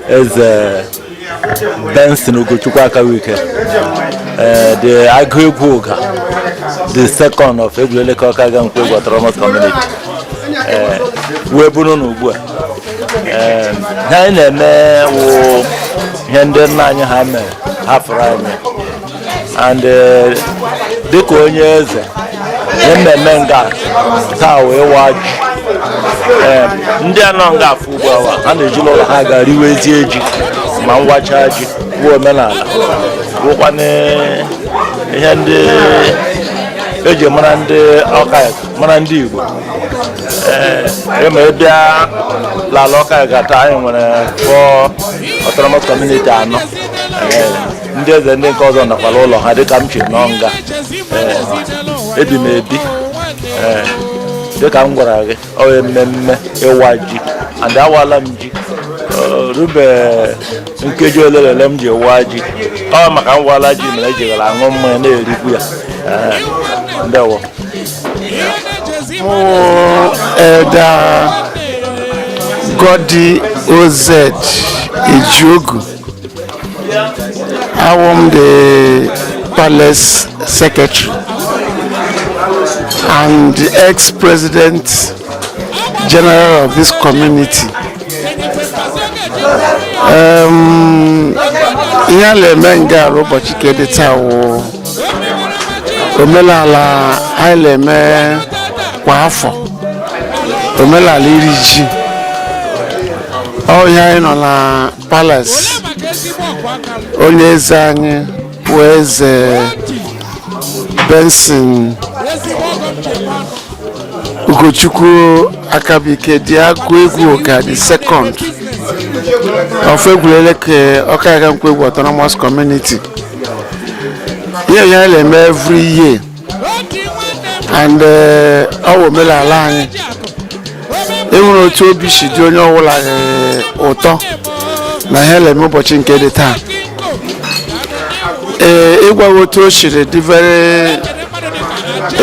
eze Benson Ugochukwu Akawike eh, the agụ egwu ụga the second of Egwuleleke Okaiuga Nkwoegwu autonomous community eh, wụ ebe unu nọ ugbu a eh, ihe anyị na-eme wụ ihe ndị nna anyị ha mere hafụrụ anyị and eh, dịka onye eze ihe mmemme nga taa wụ ịwa ji Ee, ndị a nọ nga fụọ ugbu a wa ha na-eje n'ụlọ ha ga riwezie ji ma m wachaa ji bụ omenala bụkwana ihe ndị eji mara ndị ọka mara ndị Igbo ee ma ị bịa l'ala Okaiuga taa anyị nwere four autonomous community anọ Ee, ndị eze ndị nke ọzọ nọkwa l'ụlọ ha dịka m siri nọ nga ebi m ebi dịka m gwara gị ọ mmemme ịwa ji and awala m ji rube nkeji ole na ole m ji waa ji ọ maka m wala ji mere eji gara aṅụ mmanya na-erikwu ya ndewo Elder Goddy Oz Ejiogu awụ m the palace secretary and the ex-president general of this community um, ihe a na-eme nga a l'ụbọchị ke dị taa wụ omenala anyị na-eme kwa afọ omenala iri ji ọ ihe anyị nọ na Palace onye eze anyị bụ eze Benson Ugochukwu Akabike the agụ egwu ụga the second of Egwuleleke Okaiuga Nkwoegwu autonomous community ihe a na-eme every year and eh, ọ bụ omenala anyị enwere otu obi si dị onye ọbụla eh, ụtọ na ihe e le-eme ụbọchị nke dị taa ee ịgwa gị otu o siri dị very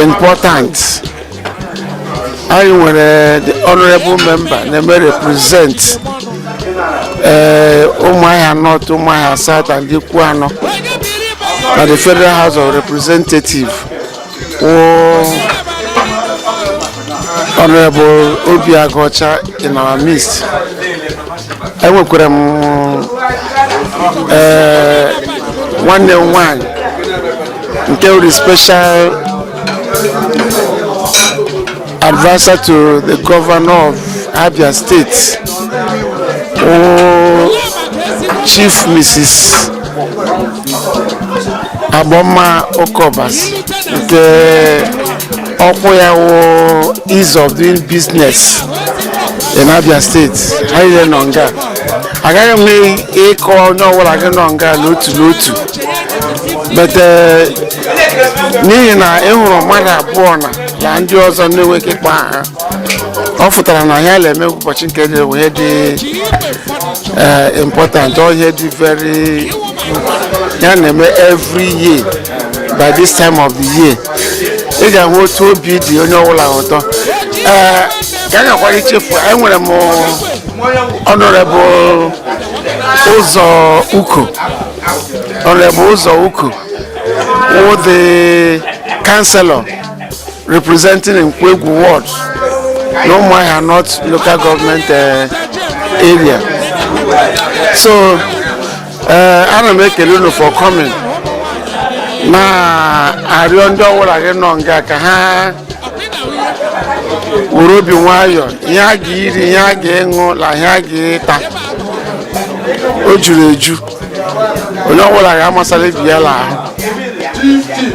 important anyị nwere the honorable member na-eme represent ee Ụmụahịa North Ụmụahịa South and Ikwuano na the federal house of representative wụ honorable Obi Aguocha in our midst enwekwara m ee nwanne m nwanyị nke wụrụ special Advisor to the governor of Abia State, oh, Chief Mrs. Agbonma Ukaobasi, the ọkwa ya wụ ease of doing business in Abia State. Ha liile nọ nga, agaghị m ịkpọ onye ọbụla gị nọ nga n'otu n'otu but uh, n'ihi na ị hụrụ mmadụ abụọ na na ndị ọzọ na-enweghị ike ịkpọ aha ọ pụtara na ihe a na-eme ụbọchị nke dị bụ ihe dị eh, important ọ ihe dị very ihe a na-eme every year by this time of the year ị ga-ahụ otu obi dị onye ọbụla ụtọ ee ka a ghakwara ichefu anyị nwere m honorable Ụzọ Uko Honorable Uzo Uko, wụ the councillor representing Nkwoegwu Ward, na Umuahia North local government uh, area. So, uh, ana m ekele unu for coming. Na arịọ ndị ọwụla gị nọ nga ka ha were obi nwayọọ ihe a ga-iri ihe a ga-ịṅụ na ihe a ga-ịta o juru eju onye ọbụla ga-amasara ibi ya n'ahụ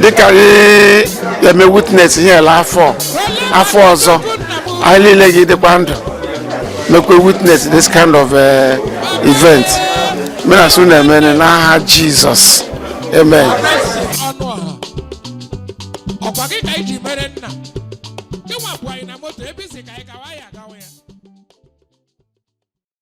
dịka anyị eme witness ihe a l'afọ a afọ ọzọ anyị niile ga-ịdịkwa ndụ mekwa witness this kind of eh, event m na-asị ọ na-emere n'aha jizọs amen anụ ọha ọkwa gị ka iji mere nna ịnwapụ anyị na moto ebe ị sị ka anyị gawa ya agawa ya